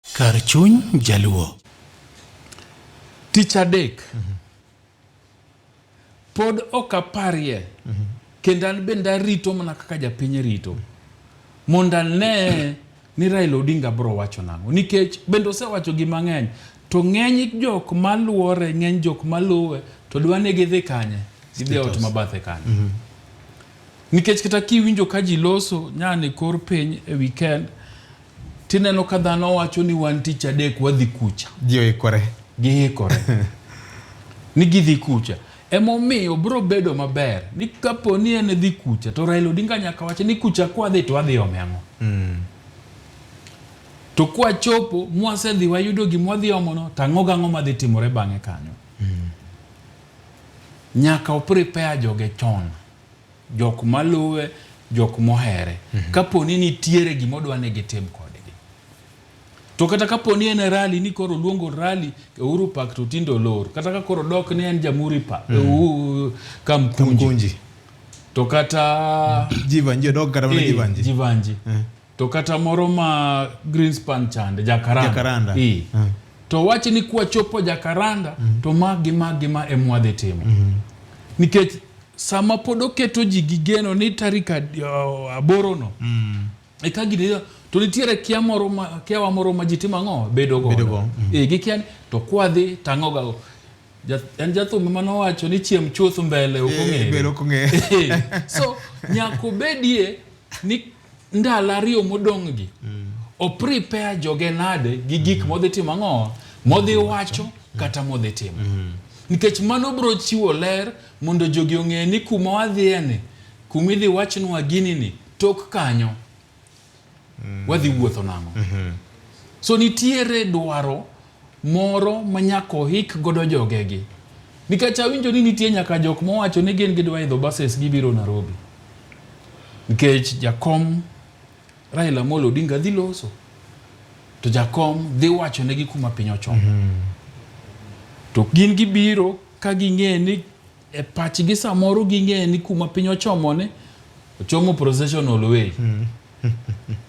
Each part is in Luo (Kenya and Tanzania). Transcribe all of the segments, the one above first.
Kar chuny jaluo. Tich adek. Mm -hmm. Pod ok aparie. Mm -hmm. Kendo an bende arito mana kaka japiny rito. Mondo ane ni Raila Odinga bro wacho nang'o. Nikech bende osewacho gi mang'eny. To ng'eny jok maluore, ng'eny jok maluwe, to dwa ni gidhi kanye? Gidhi ot mabathe kanye? Mm -hmm. Nikech kata kiwinjo ka ji loso nyane kor piny e weekend, Tineno ka dhano wacho ni wan tich adek wadhi kucha. Ji oikore. Giikore. ni gidhi kucha. Emomiyo bro bedo maber ni kapo ni en dhi kucha to Raila Odinga nyaka wache ni kucha kwadhi to wadhi ome ang'o. Mm. To kwachopo mwasedhi wayudo gima wadhi omono to ang'o gang'o madhi timore bang'e kanyo. Mm. Nyaka oprepare joge chon. jok maluwe, jok mohere. Mm -hmm. Kapo ni nitiere gima odwa ni gitim kodgi. To kata kapo ni en rali ni koro luongo rali e uru pak to tindo lor. Kata ka koro dok ni en jamuri pa mm -hmm. kamkunji. kamkunji. To kata jivanji dok kata mana eh, jivanji. Jivanji. Mm -hmm. To kata moro ma Greenspan chande Jakaranda. Jakaranda. Ii. Mm. To wache ni kuwa chopo Jakaranda mm. to ma gi ma gi ma e mwadhi timo. Mm. Nikech sama pod oketo ji gi geno ni tarik uh, aboro no. Mm. E ka gidi to nitiere kia moro ma kia wa moro ma ji timo ang'o bedo go. Bedo go. Mm. E gi kia ni to kwadhi tang'o ga go. en jathum ema nowacho ni chiem chuth mbele ok eh, ong'ere eh, so nyaka obedie ni ndalo ariyo modong'gi mm. oprepare joge nade gi gik mm. modhi timo ang'o modhi wacho mm. kata modhi timo mm. nikech mano bro chiwo ler mondo jogi ong'e ni kuma wadhiyeni kuma idhi wachnwa gini ni tok kanyo mm. wadhi wuotho nang'o mm -hmm. so nitiere dwaro moro ma nyaka ohik godo jogegi. Nikech awinjo ni nitie nyaka jok mowacho ni gin gidwa idho buses gibiro Nairobi. Nikech jakom Raila Amolo Odinga dhi loso. To jakom dhi wacho negi kuma piny ochomo. Mm -hmm. To gin gibiro ka ging'e ni e pachgi samoro ging'eyo ni kuma piny ochomoni ochomo processional way hmm.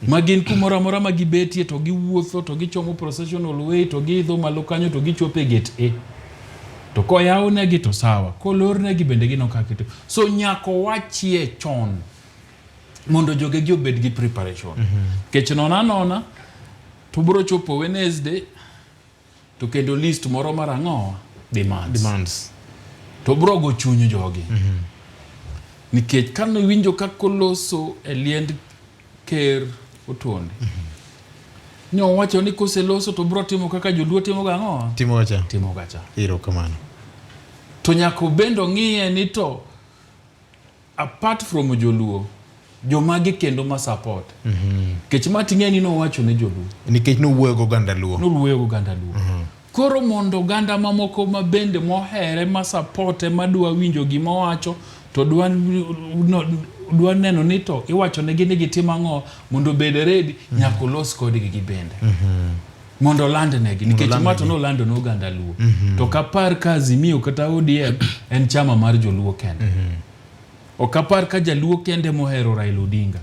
ma gin kumoro amora ma gibetie to giwuotho to gichomo processional way to giidho malo kanyo to gichopo e gate a to koyawnegi to sawa kolornegi bende gino kakito so nyaka wachie chon mondo jogegi obed gi preparation mhm. kech nona nona to bro chopo wednesday To kendo list moro mar ang'owa demands. demands. To brogo chuny jogi. Mm -hmm. Nikech kano winjo kako loso e liend ker otuonde. Mm -hmm. Nyo wacho ni kose loso to bro timo kaka joluo timo ga ang'owa. Timo gacha. Timo gacha. Iro kamano. To nyako bendo ng'iye ni to Apart from Joluo, jomage kendo ma support mm -hmm. kech ma ting'e ni nowacho ne joluo nikech nowuoyo go ganda luo nowuoyo go ganda luo mm -hmm. koro mondo ganda mamoko ma bende mohere ma support ma dwa winjo gima owacho to dwa no, dwa neno ni to iwacho ne gini gitim ang'o mondo bed ready mm -hmm. nyako los kodgi gi bende mm -hmm. mondo olandnegi nikech ma to olandnegi. nolando ne oganda luo to kapar ka azimio kata odm en chama mar joluo kende ok apar ka jaluo kende mohero raila odinga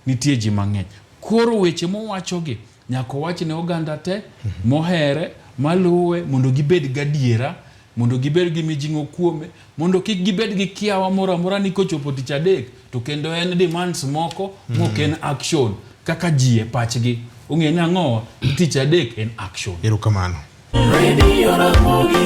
nitie ji mang'eny koro weche mowachogi nyaka owach ne oganda te mohere maluwe mondo gibed gadiera mondo gibed gi mijing'o kuome, mondo kik gibed gi kiawa moro amora ni kochopo tich adek to kendo en demands moko mm. mok en action kaka ji e pachgi ong'e ni ang'owa tich adek en action. Erokamano. Radio Ramogi,